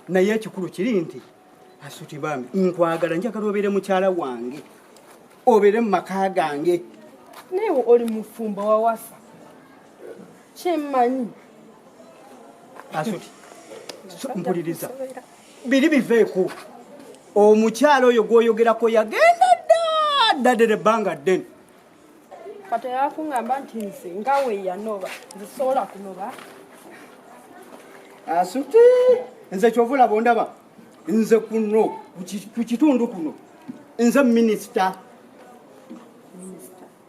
naye ekikulu kiri nti asuti bambi nkwagala njagala obeere mukyala wange obeere mu maka gange naye oli mufumbo wawasa kyemmanyi asuti mpuliriza biri biveeku omukyala oyo gwoyogerako yagenda dda ddadera ebbanga ddene kati yakungamba nti nze nga weyanoba nzisobola kunoba asuti nze kyova olaba ondaba nze kuno ku kitundu kuno nze minisita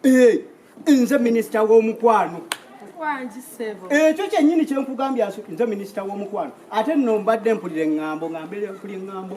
eh, nze minisita w'omukwano ekyo eh, kyenyini kyenkugambye nze minisita w'omukwano ate nno mbadde mpulira eŋŋambo ngambeera mpulira eŋŋambo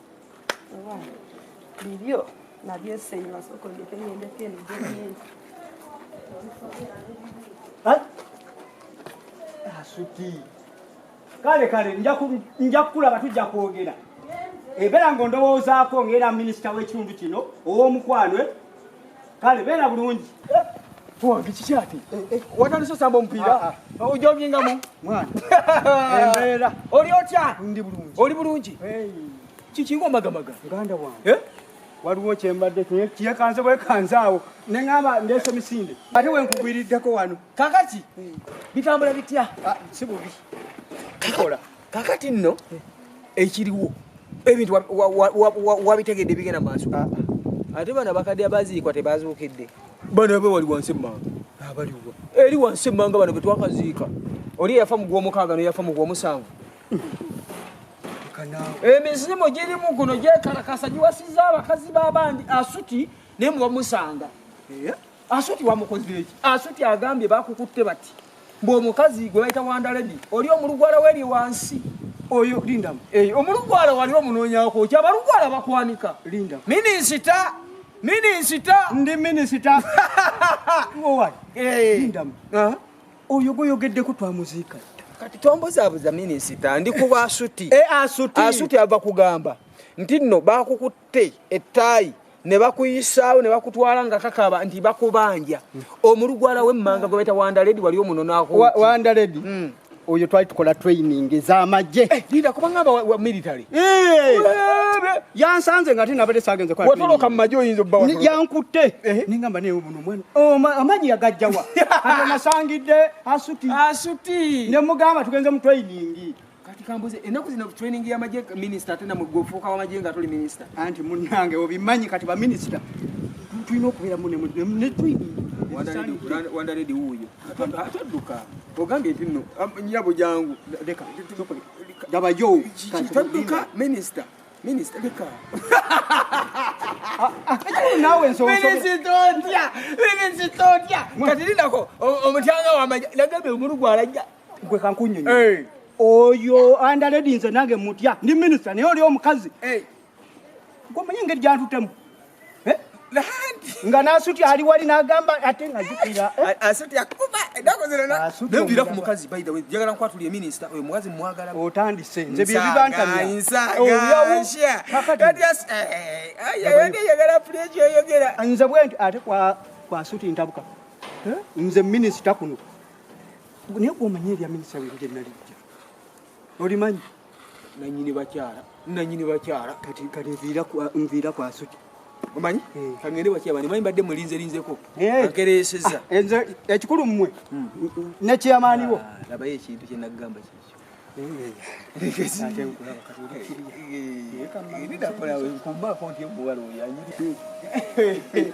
bibyo nabyo eseyi masoko ndeke ngende peni jeni asuti kale kale nja kukulaba tujja kwogera ebera nga ondowoozaako ng'era minisita w'ekitundu kino ow'omukwano kale beera bulungi wange kiki ati eh, eh, watandise osamba omupiira ah, ah. ojogingamu mwana embeera oli otya ndi bulungi oli bulungi kikinga omagamaga muganda wange eh? waliwo kyembadde kiyekanze bwekanze awo neŋamba ndeese misinde ate wenkugwiriddeko wano kakaki bitambula bitya ah, si bubi kikola kakati nno ekiriwo ebintu wabitegedde bigenda maaso ah, ah. ate bana bakadde abaziikwa tebazuukidde bano be wali wansi emmanga abaliwa eri wansi emmanga bano betwakaziika oli eyafa mu gwomukaaga noyafa mu gwomusanvu emizimu girimu guno gyekalakasa giwasiza abakazi babandi asuti naye mubamusanga Asuti wamukoze eki? Asuti agambye bakukutte bati. Mbu omukazi gwe bayita Wanda Lady oli omulugwala weri wansi. Oyo linda. Eh, omulugwala wali omunoonya ko. Kya balugwala bakwanika. Linda. Minisita. Minisita. Ndi minisita. Ngo wali. Eh. Linda. Ah. Oyo gwe yogedde ko twamuziika. Kati twambuzabuza minisita ndi kuba asuti. Eh, asuti. Asuti ava kugamba. Ntinno bakukutte bakutte ettaayi ne bakuyisaawo ne bakutwala nga kakaba nti bakubanja omulugwala w'emmanga gwe baita wandaledi wali omunonako wandaledi hmm. oyo twali tukola training ez'amagye eh, linda kubanga wa military eh! yansanze nga ate nabadde sagenze watoloka mu magye oyinza obbawa yankutte eh? nengamba naye buno omwana oh, amagye yagajjawa ate nasangidde asuti asuti ne mugamba tugenze mu training kati kambuze enaku zino training ya maje minister ate namwe gwofuuka wa maje nga tuli minister anti munange obimanyi kati ba minister tulina okubeera mu ne training wanda redi wuuyo atadduka ogambye nti no nyabo jangu leka gabayo tadduka minister minister leka nawe nsoominisitotya minisitotya kati lindako omutyanga wamaja nagambye omulu gwalajja gwe kankunyonyo hey. oyo andaledi nze nange mutya ndi minisita naye oli omukazi hey. gwomanyi engeri gyantutemu eh? nga nasuti ali wali nagamba ate nga zikira eh? nembira ku mukazi baidawe jagala nkwatuli eminista oyo mukazi mwagala otandise nze byebibantamyayagala nze bwenti ate kwasuti ntabuka eh? nze minisita kuno naye gwomanyi erya minisita weru gye nalijja olimanyi nanyini bakyala nanyini bakyala kati kati nviira kwasuki omanyi eh. kangende bakyaba nimanyi mbadde mulinzerinzeko eh. akereseza ah, enze ekikulu mmwe hmm. nekyamaaniwo ah, labayo ekintu kyenagamba kikyo eh,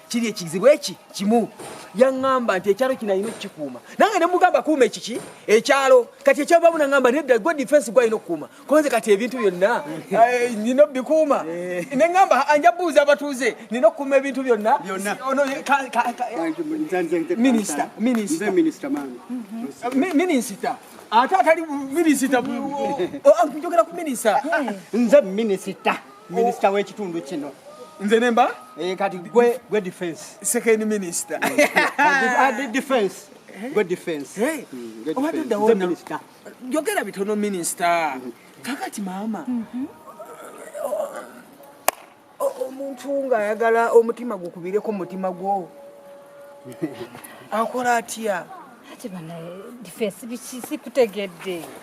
kiri ekizibu eki kimu yaŋŋamba nti ekyalo kino alina okukikuuma nange ne mugamba kuuma ekiki ekyalo kati ekyalo bamu naŋŋamba nedda gwe difensi gwe alina okukuuma konze kati ebintu byonna eh, nina obikuuma eh. ne ŋŋamba anja buuza abatuuze nina okukuuma ebintu byonna minisita minisita ate atali minisita njogera ku minisita nze minisita Minister w'ekitundu kino. Nze nemba? Eh, kati gwe gwe defense. Second minister. Adi defense. Eh? Gwe defense. Hey. Mm, gwe defense. Obadde wona. Minister. Yogera bitono minister. Mm -hmm. Kakati mama. Mm -hmm. Omuntu ng'ayagala omutima gukubireko mutima gwo. Akola atya? Ati bana defense biki sikutegedde.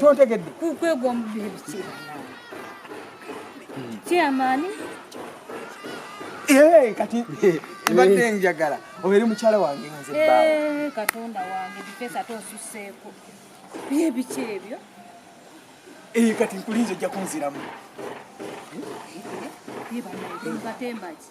tontegedde kyamaani eh, kati eh, mbadde eh. njagala obeere mukyala wange nze baawe katonda wange bifesa tosuseeko byebiki ebyo kati nkulinza ojja kunziramu batembaki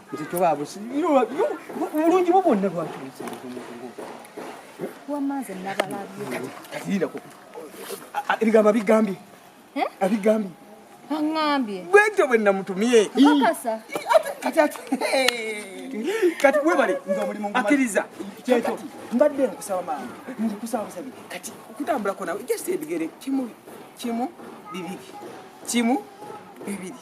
nze tobaabu obulungi bwo bwonna lwaki wamanze nabalabyeatirirako ebigambo abigambye abigambye aŋambye bwentyo bwe namutumye kati ati kati webale nga omulimu akiriza kyekyo mbadde nkusaba maama nkusaba busabi kati okutambulako nawe just ebigere kimu kimu bibiri kimu bibiri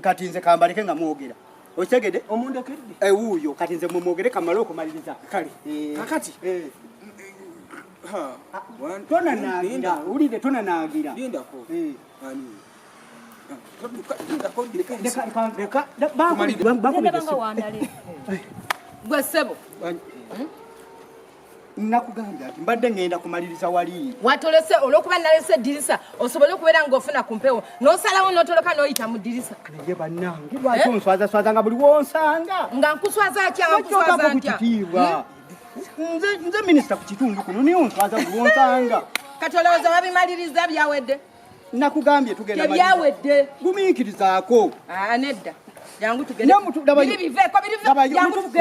kati nze kambaleke nga mwogera okitegede omundekedde ewuuyo eh, kati nze mumwogere kamale okumaliriza kale eh. kakati eh. tonanagira wulire tonanagira gwe ssebo nakugambye ati mbadde ngenda kumaliriza wali watolese olwokuba nalese eddirisa osobole okubeera ngaofuna ku mpewo nosalawo notoloka noyita mu ddirisa naye banange lwaki eh? onswazaswaza nga buli wonsanga nga nkuswaza atya nga nkuswaza atya hmm? nze minisita ku kitundu kuno naye onswaza buli wonsanga kati olowooza wabimaliriza byawedde nakugambye tugenda tebyawedde gumiikirizaako ah, nedda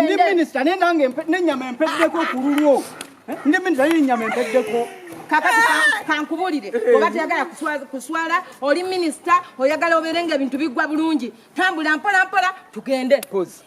ndi minisita naye nange nenyama empeddeko ku lulwo eh, ndi minisita naye enyama empeddeko kakati ah! kankubulire eh. oba teyagala kuswala oli minisita oyagala obeere nga ebintu bigwa bulungi tambula mpola mpola tugende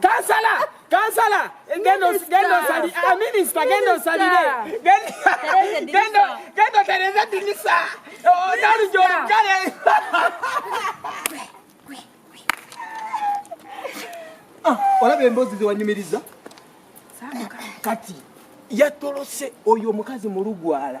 Kansala, kansala, genda osali, a minister genda osalire. Genda genda otereze dinisa. Odali jori kale. Ah, olaba emboozi ze wanyumiriza? Kati yatolose oyo omukazi mulugwala.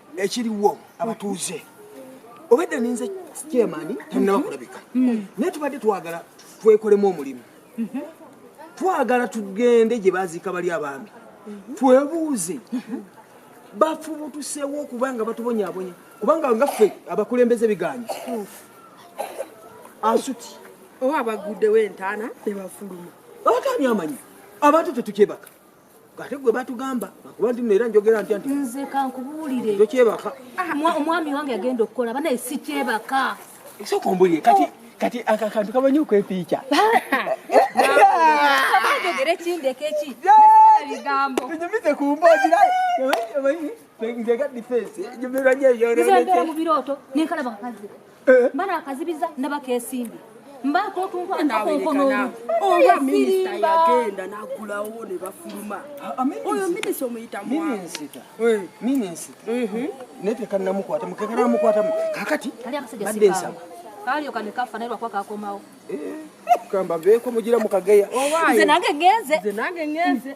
ekiriwo abatuuze obedde ninze kyemani tanaba kulabika mm. naye tubadde twagala twekolemu omulimu mm-hmm. twagala tugende gye baziika bali abaami mm-hmm. twebuuze mm-hmm. bafubutusewo okubanga batubonyabonya kubanga nga ffe abakulembeze biganye asuti oba abaguddewo entaana nebafuluma abatani amanyi abantu tetukyebaka ate gwe batugamba akuba nti era njogera ntya nti nze kankubuulire tokyebaka ah, omwami wange yagenda okukola banaye sikyebaka esooka ombulire kati oh. kati akakantu kamanyi okwepiica ogere kindeko eki bigambo tunyumize ku mboozi nze nga difensi nyumirwa nyo ebyononese mu birooto nenkalaba nkazi eh. mba nakazibiza ndaba kesimbi mbaako otunkwanakonkonoolu oba minisita yagenda nagulawo ne bafuluma ah, ah, oyo minisita omuyita minisita eh. minisita mhm. naye tekannamukwatamu kekanamukwatamu kakati badde nsaba kalio kane kafa naye lwakuba kakomawo eh, kamba beeko mugira mukageya nze nange ngenze nze nange ngenze